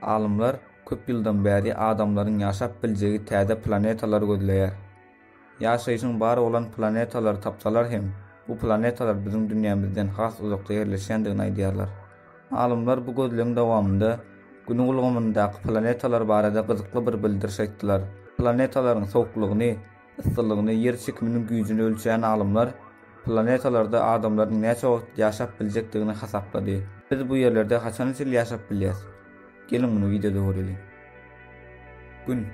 Alymlar köp ýyldan bäri adamlaryň ýaşap biljegi täze planetalary gözleýär. Ýaşaýşyň bar bolan planetalary tapsalar hem, bu planetalar biziň dünýämizden has uzakda ýerleşýändigini aýdýarlar. Alymlar bu gözlegiň dowamynda Günüň ulgamyndaky planetalar barada gyzykly bir bildiriş aýtdylar. Planetalaryň sowuklygyny, yssylygyny, ýer çekiminiň güýjüni ölçeýän alymlar planetalarda adamlaryň näçe wagt ýaşap biljekdigini hasaplady. Biz bu ýerlerde haçan-hiç ýyl ýaşap bilýäs? Geliň muny wideoda göreliň. Gün.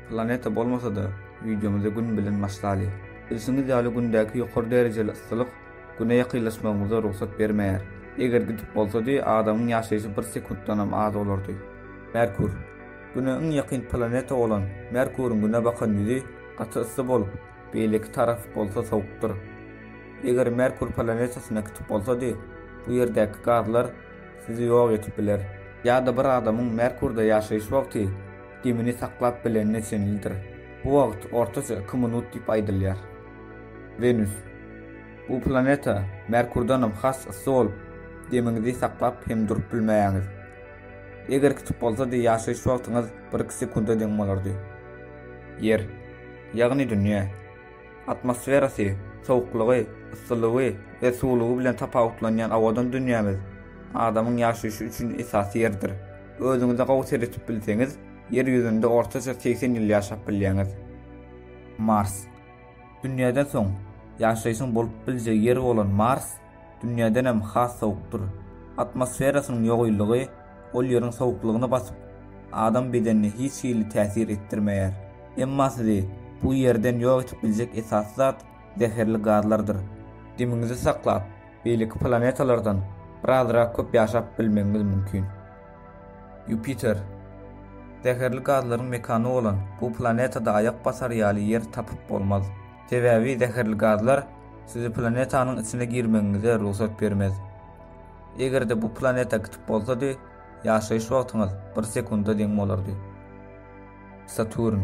Planeta bolmasa-da, wideomyzy Gün bilen başlaly. Bilşiňiz ýaly Gündäki ýokary derejeli yssylyk Güne ýakynlaşmagymyza rugsat bermeýär. Eger gidip bolsady, adamyň ýaşaýşy bir sekuntdanam az bolardy. Merkur. Güne iň ýakyn planeta bolan Merkuryň Güne bakan ýüzi gaty yssy bolup, beýleki tarapy bolsa sowukdyr. Eger Merkur planetasyna gidip bolsady, bu ýerdäki gazlar Sizi ýok edip biler. Ýa-da bir adamyň Merkurda ýaşaýyş wagty demini saklap bilenine çenlidir. Bu wagt ortaça iki minut diýip aýdylýar. Wenus. Bu planeta Merkurdanam has yssy bolup, demiňizi saklap hem durup bilmeýäňiz. Eger kitap bolsady, ýaşaýyş wagtyňyz bir-iki sekunda deň bolardy. Ýer. Ýagny dünýä. Atmosferasy, sowuklygy, yssylygy we suwlugy bilen tapawutlanýan owadan dünýämiz adamyň ýaşaýşy üçin esasy ýerdir. Özüňize gowy seretip bilseňiz, Ýer ýüzünde ortaça segsen ýyl ýaşap bilýäňiz. Mars. Dünýäden soň, ýaşaýşyň bolup biljek ýeri bolan Mars, Dünýädenem has sowukdyr. Atmosferasynyň ýogylygy ol ýeriň sowuklygyny basyp, adam bedenine hiç hili täsir etdirmeýär. Emma sizi bu ýerden ýok edip biljek esasy zat zäherli gazlardyr. Demiňizi saklap, beýleki planetalardan birazrak köp ýaşap bilmegiňiz mümkin. Ýupiter. Zäherli gazlaryň mekany bolan bu planetada aýak basar ýaly ýer tapyp bolmaz. Sebäbi zäherli gazlar sizi planetanyň içine girmegiňize rugsat bermez. Eger-de bu planeta kiçik bolsady, ýaşaýyş wagtyňyz bir sekunda deň bolardy. Saturn.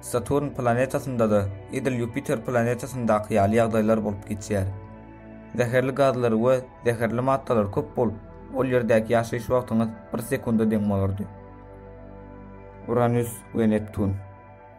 Saturn planetasynda-da edil Ýupiter planetasyndaky ýaly ýagdaýlar bolup geçýär. Zäherli gazlar we zäherli maddalar köp bolup, ol ýerdäki ýaşaýyş wagtyňyz bir sekunda deň bolardy. Uranus we Neptun.